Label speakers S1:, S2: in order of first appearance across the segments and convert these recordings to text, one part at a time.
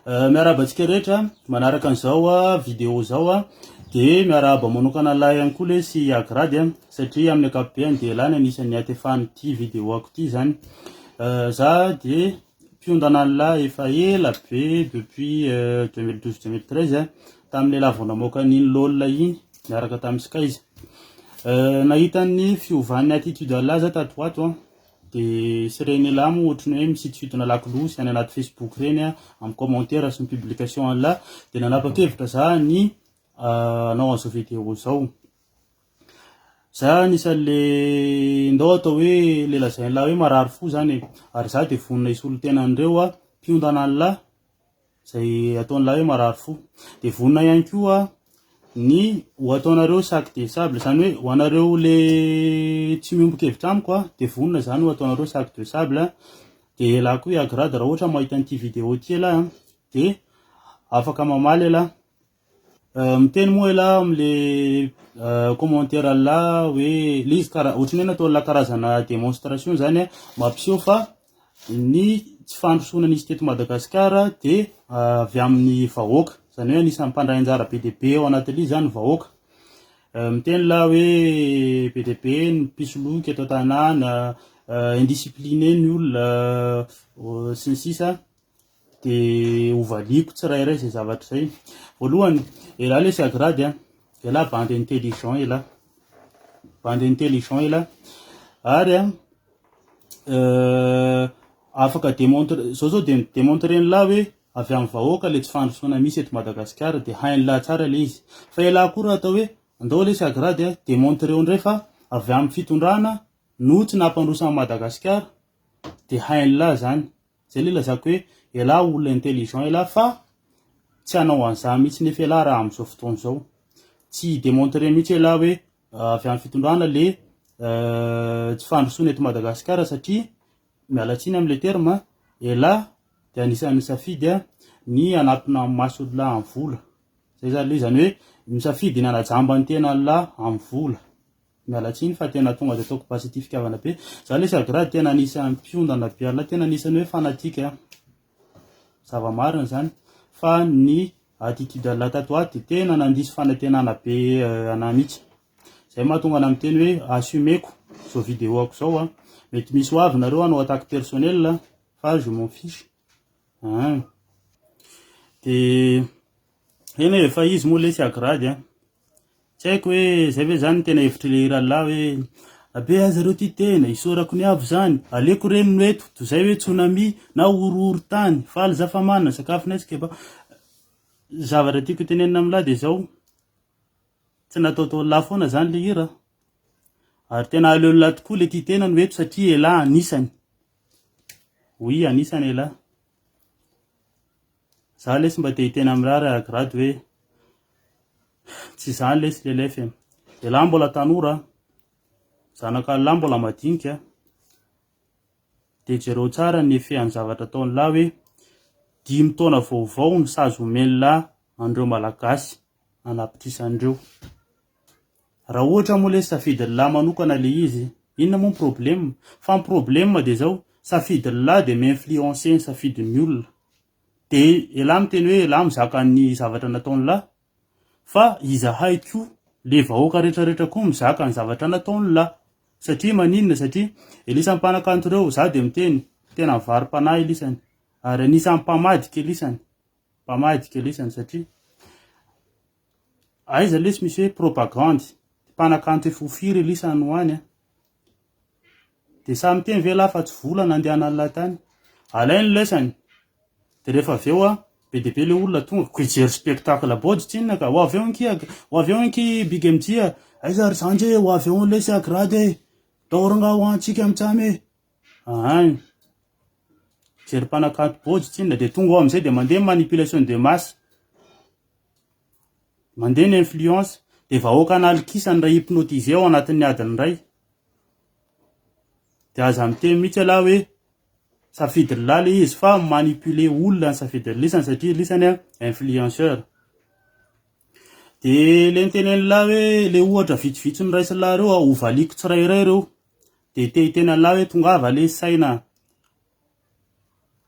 S1: Eh, miarahaba antsika rehetra manaraka an'izao ah, vidéo zao ah. dia miarahaba manokana lahy ihany koa le sy agrady ah, satria amin'ny akapobeany dia lahy ny anisan'ny atefan'ity vidéo ako ity zany eh, za dia mpiondana ny lahy efa ela be depuis 2012-2013 eh, tamin'le lavondramaoka an'iny lolona iny miaraka tamin'ny skaiza nahitan'ny fiovan'ny attitude lahy za tato ato an De sy reny elah moa ohatry ny hoe misitonsidona lakolosy any anaty facebook reny a, amin'ny commentaires sy ny publication an'lah, de nanapa-kevitra za ny hanao an'izao video zao. Za anisan'le ndao atao hoe le lazain'lah hoe marary fo zany e, ary za de vonona hisolo tena an'ireo a, mpiondana an'lah, izay ataon'ilay hoe marary fo. Dia vonona ihany koa ny ho ataonareo sac de sable, izany hoe ho anareo le tsy miombon-kevitra amiko a, dia vonona izany ho ataonareo sac de sable. Dia ialahy koa i Agrad raha ohatra mahita an'ity vidéo ity ialahy dia afaka mamaly ialahy. Miteny moa elah ao amle commentaire la hoe le izy kara otrany hoe natao la karazana demonstration zany a mampiseho fa ny tsy fandrosoana nisy teto Madagasikara de avy amin'ny vahoaka zany hoe anisan'ny mpandray anjara be dia be ao anatin'le izy zany vahoaka miteny la hoe be dia be ny mpisoloky eto an-tanàna indiscipline ny olona sy ny sisa dia hovaliako tsirairay izay zavatra izay. Voalohany, elah lesy agrady an, elah bande intelligent elah, bande intelligent elah, ary an, euh, afaka démontre, zao zao dia démontre elah hoe avy amin'ny vahoaka ilay tsy fandrosoana misy eto Madagasikara dia hain'lah tsara ilay izy. Fa elah koa raha atao hoe, andao lesy agrady an, démontre eo indray fa avy amin'ny fitondrana no tsy nampandroso an'i Madagasikara dia hain'lah zany. Zay le ilazako hoe elah olona intelligent elah fa tsy hanao an'zany mihitsy nefa elah raha amin'izao fotoana izao. Tsy hi-demontrer mihitsy elah hoe avy amin'ny fitondrana le tsy fandrosoana eto Madagasikara satria miala tsiny amin'ilay terme an, elah dia anisan'ny nisafidy ny hanatona amin'ny maso ny lahy amin'ny vola. Zay zany le izany hoe misafidy ny hanaja amban'ny tenan'ny lahy amin'ny vola. Miala tsiny fa tena tonga de ataoko basy ity fitiavana be. Za lesy agrady tena anisan'ny mpiondana be ala tena anisan'ny hoe fanatique a. Zava-marina zany fa ny attitude ala tato ato de tena nandiso fanantenana be euh, anah mihitsy. Zay mahatonga anah miteny hoe assumeko zao vidéo-ako zao a. Mety misy ho avy nareo hanao attaque personnelle fa je m'en fiche. An! Dia eny e, fa izy moa lesy agrady an! Tsy haiko hoe izay ve izany no tena hevitr'i Rallah hoe Rabe aza ireo tia tena, isaorako ny avo izany, aleoko re ny no eto, toy izay hoe tsunami na horohoron-tany, faly za fa manana sakafo nay sy kebab. Ny zavatra tiako hotenenina amin'lah dia izao, tsy nataotao an'lah foana izany ilay hira an! Ary tena aleon'lah tokoa ilay tia tena no eto satria elah anisany. Oui anisany elah. Za lesy mba te hiteny amin'rah ry agrad hoe tsy izany lesy le lef e. Elah mbola tanora an, zanak'Allah mbola madinika an, de jereo tsara ny effet an'ny zavatra ataon'lah hoe dimy taona vaovao no sazy omen'lah an'ireo malagasy anapitrisany ireo. Raha ohatra moa lesy safidin'lah manokana le izy, inona moa ny problème? Fa ny problème dia zao, safidin'lah dia mi-influencer ny safidin'ny olona. Dia elah miteny hoe elah mizaka ny zavatra nataon'lah, fa izahay koa, le vahoaka rehetra rehetra koa mizaka ny zavatra nataon'lah. Satria maninona? Satria Elisany mpanakanto ireo, za dia miteny, tena mivari-panahy Elisany, ary anisan'ny mpamadika Elisany, mpamadika Elisany satria, Aiza lesy misy hoe propagandy, ty mpanakanto efa ho firy Elisa no any a! Dia samy teny ve lahy fa tsy vola nandehanan'ny lahy tany? Alainy ny lesany, dia rehefa avy eo an, be dia be ilay olona tonga, koa hijery spectacle body tsinona ka, ho avy eo ankia, ho avy eo ankia Big MJ a, aiza ry zandry e, ho avy eo lesy a Grady e, daory nga ho antsika mitsam e, Aany. Mijery mpanakanto bôjy tsinona dia tonga ao amin'izay dia mandeha ny manipulation de masse. Mandeha ny influence. Dia vahoaka analikisany iray hypnotiser ao anatin'ny adiny iray. Dia aza miteny mihitsy ialahy hoe safidin'lah ilay izy fa manipuler olona ny safidin'ny lisany satria lisany influenceur. Dia ilay nitenen'lah hoe ilay ohatra vitsivitsy noraisin'lah ireo hovaliako tsirairay ireo. dia te hitena lahy hoe tongava lay saina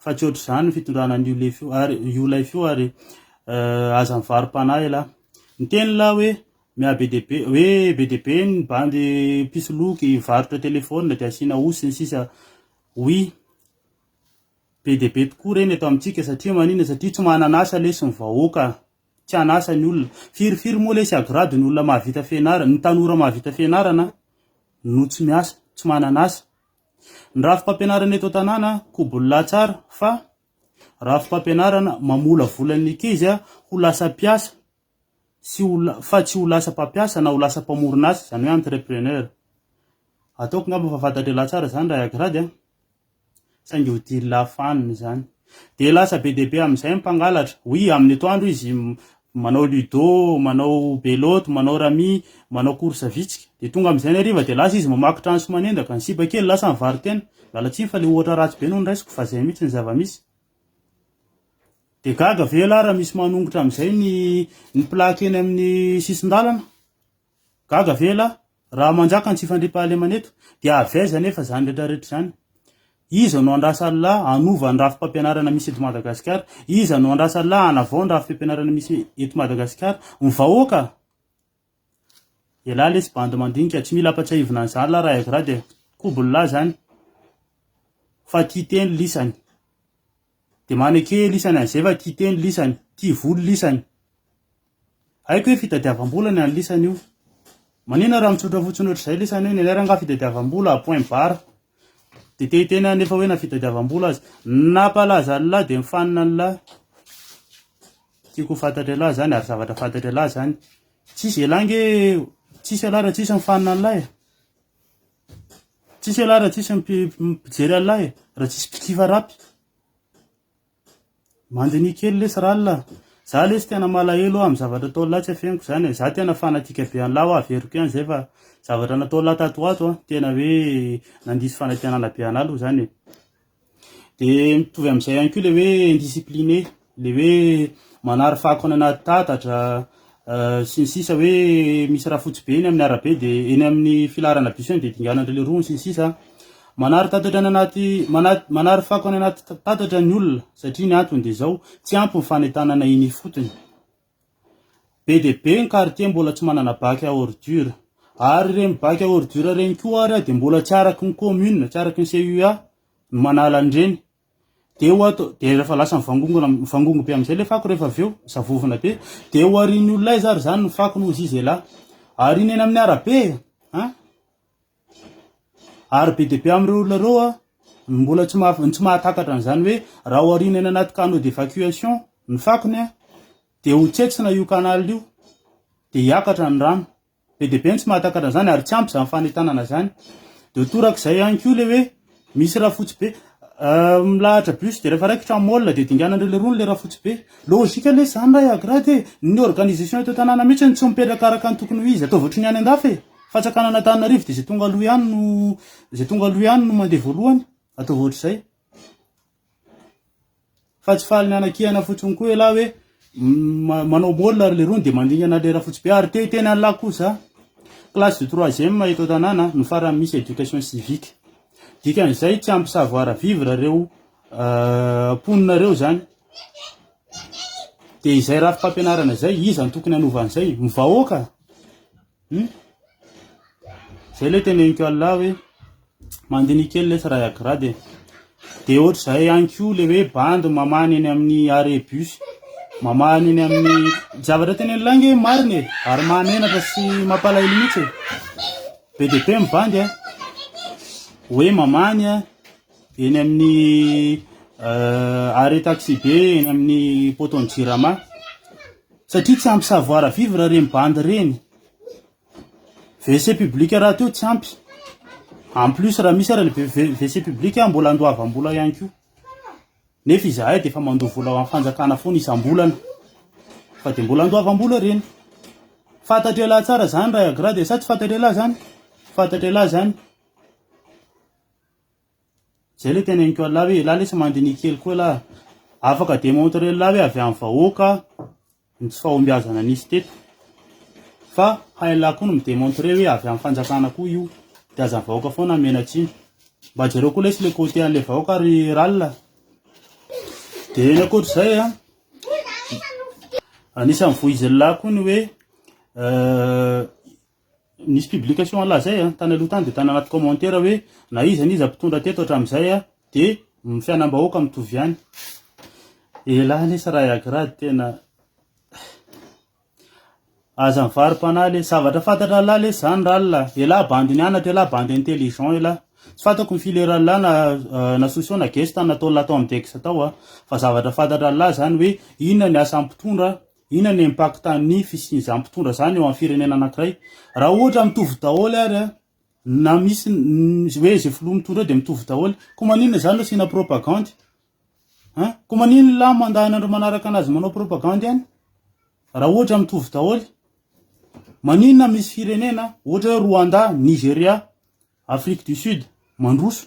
S1: fa tsy ohatr'izany ny fitondrana an'io lefy io ary io lay fio ary eh, aza mivarom-panahy lahy niteny lahy hoe miha be dia be hoe be dia be ny bandy mpisoloky varotra telefona dia asiana osy ny sisa oui be dia be tokoa ireny eto amintsika satria manina satria tsy manana asa lesy ny vahoaka tsy an'asa ny olona. Firy firy moa lesy agrady ny olona mahavita fianarana, ny tanora mahavita fianarana no tsy miasa, tsy manana asa. Ny rafi-pampianarana eto an-tanàna kobolina tsara fa rafi-pampianarana mamolavola ny ankizy ho lasa mpiasa sy ho la- fa tsy ho lasa mpampiasa na ho lasa mpamorona asa, izany hoe entrepreneur. Ataoko angamba fa fantatr'ialahy tsara izany raha i agrady an. saingy ho dily lahy fanina izany. Dia lasa be dia be amin'izay ny mpangalatra. Oui, amin'ny etoandro izy manao ludo, manao belote, manao rami, manao course vitsika. Dia tonga amin'izay ny hariva dia lasa izy mamaky trano sy manendaka. Ny sipa kely lasa nivaro-tena. Miala tsiny fa ilay ohatra ratsy be no noraisiko fa izay mihitsy ny zava-misy. Dia gaga ve ialahy raha misy manongotra amin'izay ny ny plaque eny amin'ny sisin-dalana? Gaga ve elah? Raha manjaka ny tsy fandriampahalemana eto, dia avy aiza anefa izany rehetrarehetra izany? Iza no andrasa Allah hanova ny rafi-pampianarana misy eto Madagasikara? Iza no andrasa Allah hanavao ny rafi-pampianarana misy eto Madagasikara? Ny vahoaka? Elah lesy bandy mandinika, tsy mila ampatsiahivina an'izany lah raha Agra dia kobl lah izany fa tia teny lisany. Dia maneke lisany an'izay fa tia teny lisany, tia vola lisany. Haiko hoe fitadiavam-bola ny an'i Lisa anio. Maninona raha mitsotra fotsiny ohatr'izay Lisa anio? Ny anay rangaha fitadiavam-bola à point barre. Dia te hiteny anefa hoe na fitadiavam-bola aza. Nampalaza an'lah dia mifanina an'lah. Tiako ho fantatry an'lah izany ary zavatra fantatry an'lah izany. Tsisy elah ange, tsisy elah raha tsisy mifanina an'lah e. Tsisy elah raha tsisy mpijery an'lah e, raha tsisy mpikifa rapy. Mandiniha kely lesy r'Allah a! Za lesy tena malahelo amin'ny zavatra ataon'lah tsy afeniko izany e! Za tena fanatique be an'lah hoa averiko ihany izay fa zavatra nataon'lah tato ho ato tena hoe nandiso fanatenana be an'ah aloha izany e! De mitovy amin'izay ihany koa le hoe indiscipline, le hoe manary fako any anaty tatatra, sy ny sisa hoe misy rà fotsy be eny amin'ny arabe dia eny amin'ny filaharana bus eny dia dinganan'dry le rony sy ny sisa manary tatatra any anaty manary fako any anaty tatatra ny olona satria ny antony dia izao tsy ampy ny fanentanana eny ifotony be dia be ny quartier mbola tsy manana bac à ordure ary ireny bac à ordure ireny koa ary dia mbola tsy araka ny commune tsy araka ny CUA no manala an'ireny dia ho ato dia rehefa lasa mivangongona mivangongo be amin'izay le fako rehefa avy eo zavovona be dia ho arin'ny olona izy ary izany ny fako no izy izy lahy ary iny eny amin'ny arabe a ary be dia be amin'ireo olona ireo a mbola tsy maha tsy mahatakatra an'izany hoe raha ho arina eny anaty canaux d'évacuation ny fakony a dia ho tsetsina io canal io dia hiakatra ny rano Be dia be ny tsy mahatakatra an'izany ary tsy ampy izany fanentanana izany. Dia ho toraka izay ihany koa ilay hoe misy rafotsy be milahatra bus dia rehefa raikitra ny môle dia dinganan'ireo lerony ilay rafotsy be. Logika lesy izany ray agrad e! Ny organisation eto an-tanàna mihitsy no tsy mipetraka araka ny tokony ho izy. Ataovy ohatry ny any an-dafy e! Fantsakana Antananarivo dia izay tonga aloha ihany no izay tonga aloha ihany no mandeha voalohany. Ataovy ohatr'izay. Fa tsy faly mianakihana fotsiny koa ialahy hoe manao môle ary lerony dia mandringana lera fotsy be ary te hiteny an'lah koa za classe de troisième eto an-tanàna no farany misy éducation civique dikan'izay tsy ampy savoir vivre reo euh, mponina reo zany dia izay rafi-pampianarana izay iza no tokony hanova an'izay ny vahoaka Hum. Zay le teneniko Allah hoe mandiniha kely lesy raha agrade e. Dia ohatr'izay ihany koa le hoe bandy mamahana eny amin'ny arrêt bus. Mamahana eny amin'ny zavatra tenen'i Lainga hoe marina e, ary mahamenatra sy mampalahelo mihitsy e. Be dia be ny bandy a. Hoe mamahany a, eny amin'ny euh, arrêt taxi be eny amin'ny poteau-n'ny Jirama. Satria tsy ampy savoir vivre reny bandy reny. WC public rahateo tsy ampy. En plus raha misy ara ny WC public mbola andoavam-bola ihany koa. Nefa izahay dia efa mandoa vola ho an'ny fanjakana foana isam-bolana. Fa dia mbola andoavam-bola reny. Fantatr'e lahy tsara zany ray agra dia sa tsy fantatr'e lahy zany? Fantatr'e lahy zany. Zay ilay teneniko an'lah hoe elah lesy mandiniha kely koa elah. Afaka demontrer an'lah hoe avy amin'ny vahoaka ny tsy fahombiazana nisy teto. Fa hain'lah koa ny mi-demontrer hoe avy amin'ny fanjakana koa io. Dia aza ny vahoaka foana no miana-tsiny. Mba jereo koa lesy ilay côté an'ilay vahoaka ry r'alina. Dia ny ankoatr'izay an, anisan'ny voizin'lah koa ny hoe Nisy publication an'lah zay an, tany aloha tany dia tany anaty commentaire hoe na iza n'iza mpitondra teto hatramin'izay an dia ny fianam-bahoaka mitovy ihany. Elah anie sa raha i Agrad tena Aza mivarom-panahy le, zavatra fantatra an'lah lesy zany r'allah, elah bandy nianatra elah bandy intelligent elah, tsy fantako ny fileran'lah na euh, na Sousou na Gesta nataon'lah tao amin'ny Dex tao an, fa zavatra fantatra an'lah zany hoe inona ny asan'ny mpitondra, Inona ny impact ny fisian'izany mpitondra zany eo amin'ny firenena anakiray? Raha ohatra mitovy daholo ary an, na misy hoe izay filoha mitondra eo dia mitovy daholo, koa maninona zany no asiana propagandy? An? Koa maninona lahy mandahana andro manaraka anazy manao propagandy any? Raha ohatra mitovy daholo. Maninona misy firenena ohatra hoe Rwanda, Nigeria, Afrique du Sud mandroso?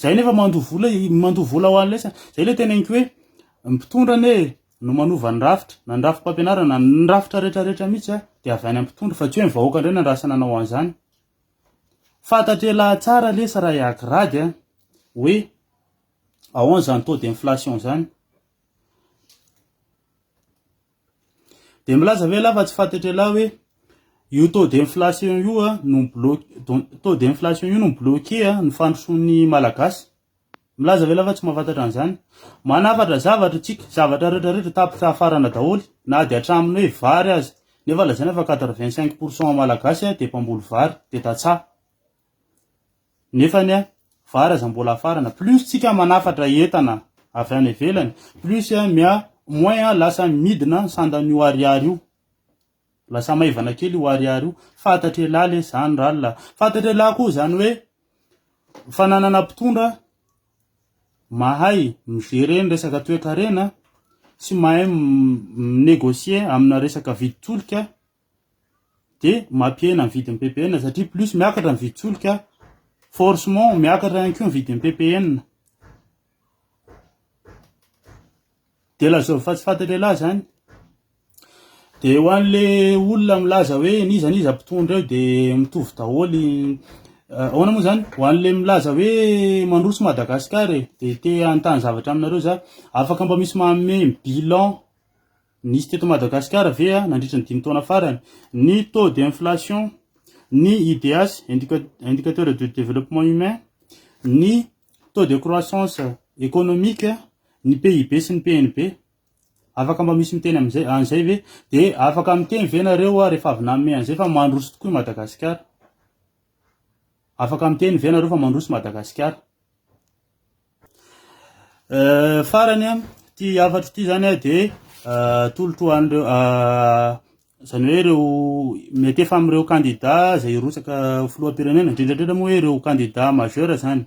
S1: Zay nefa mandoa vola, mandoa vola ho an'ilay samy. Zay le tena inky hoe ny mpitondra anie no manova ny rafitra, na ny rafi-pampianarana, ny rafitra rehetra rehetra mihitsy a, de avy any amin'ny mpitondra fa tsy hoe ny vahoaka indray nandrasa nanao an'izany. Fantatr'elah tsara lesy raha iaky rady a, hoe ahoana zany taux d'inflation zany. Dia milaza ve lava tsy fatetrela hoe io taux d'inflation io ah, no bloqué taux d'inflation io no bloqué ah, ny fandrosoan'ny malagasy milaza ve lava tsy mahafantatra an'izany manafatra zavatra tsika zavatra rehetra rehetra tapitra hafarana daholo na dia hatramin'ny hoe vary aza nefa lazaina fa 85 pourcent malagasy ah, dia mpamboly vary dia tantsaha Nefa anie vary aza mbola afarana, plus tsika manafatra entana avy any ivelany, plus mia moins lasa midina ny sandan'ny io ariary io, lasa maivana kely io ariary io, fantatr'elah lesy zany r'allah, fantatr'elah koa zany hoe fananana mpitondra mahay mi-gérer ny resaka toekarena sy mahay mi-négocier amina resaka vidin-tsolika, dia mampihena ny vidin'ny ppn satria plus miakatra ny vidin-tsolika forcement miakatra ihany koa ny vidin'ny ppn dia lazao fa tsy fantatra lahy zany dia ho an'le olona milaza hoe niza niza mpitondra eo dia mitovy daholo eh, ahoana moa zany ho an'le milaza hoe mandroso madagasikara e dia te hanontany zavatra aminareo za afaka mba misy manome bilan Nisy teto Madagasikara ve nandritra ny dimy taona farany ny taux d'inflation, ny IDH, indicateur de développement humain, ny taux de croissance économique, ny PIB sy ny PNB? Afaka mba misy miteny amin'izay an'izay ve? Dia afaka miteny ve nareo rehefa avy nanome an'izay fa mandroso tokoa i Madagasikara? Afaka miteny ve nareo fa mandroso Madagasikara? Farany an, ity hafatro ity zany an dia atolotro ho an'ireo izany hoe ireo mety efa amin'ireo kandida izay hirotsaka ho filoham-pirenena, indrindra indrindra moa hoe ireo kandida majeur zany,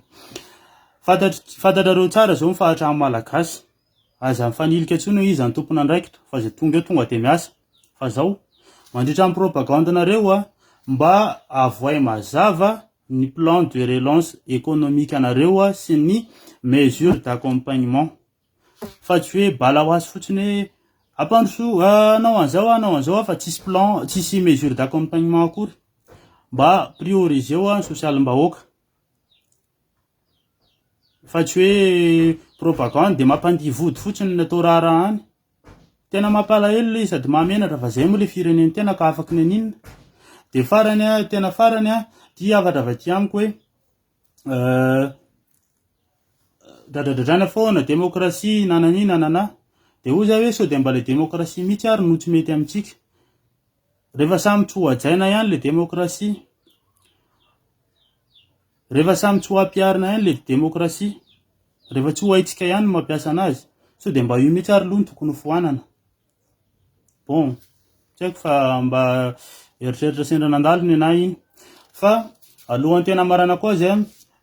S1: fantatr- fantatrareo tsara izao ny fahatran'ny malagasy. Aza mifanilika intsony hoy izy any tompon'andraikitra fa izay tonga eo tonga dia miasa. Fa zao, mandritra ny propagande-nareo a, mba avohay mazava ny plan de relance économique-nareo sy ny mesures d'accompagnement. Fa tsy hoe bala ho azy fotsiny hoe ampandroso a, hanao an'izao a, hanao an'izao a, fa tsisy plan, tsisy mesures d'accompagnement akory. Mba prioriseo ny sosialim-bahoaka. Fa tsy hoe propagande dia mampandihy vody fotsiny ny atao raharaha any. Tena mampalahelo ilay sady mahamenatra fa izay moa ilay firenen'ny tena ka afaka ny aninona. Dia farany a, tena farany a, ity hafatra avy aty amiko hoe euh, dradradradraina foana, demokrasia, nanani, nanana. Dia hoy za hoe sao dia mba ilay demokrasia mihitsy ary no tsy mety amintsika. Rehefa samy tsy ho hajaina ihany ilay demokrasia. Rehefa samy tsy ho ampiharina ihany le demokrasia, rehefa tsy ho haintsika ihany ny mampiasa anazy, sao dia mba io mihitsy ary aloha no tokony ho foanana. Bon, tsy haiko fa mba eritreritra sendra nandalo ny anay iny. Fa alohan'ny tena hamaranako azy,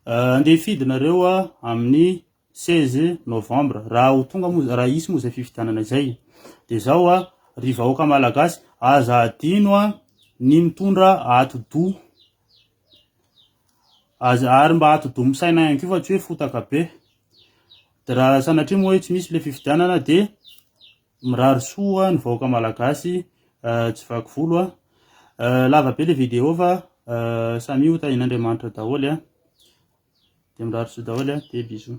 S1: andeha hifidy nareo amin'ny 16 novembre, raha ho tonga moa, raha hisy moa izay fifidianana izay. Dia zao a, ry vahoaka malagasy, aza adino ny mitondra atidoha. Aza ary mba atidoha misaina ihany koa fa tsy hoe fotaka be. Dia raha sanatria moa hoe tsy misy ilay fifidianana dia mirary soa ny vahoaka malagasy eh, tsy vaky volo an. Ah. Eh, lava be ilay vidéo fa eh, samia ho tahin'Andriamanitra daholo an. Dia mirary soa daholo an, dia bisous.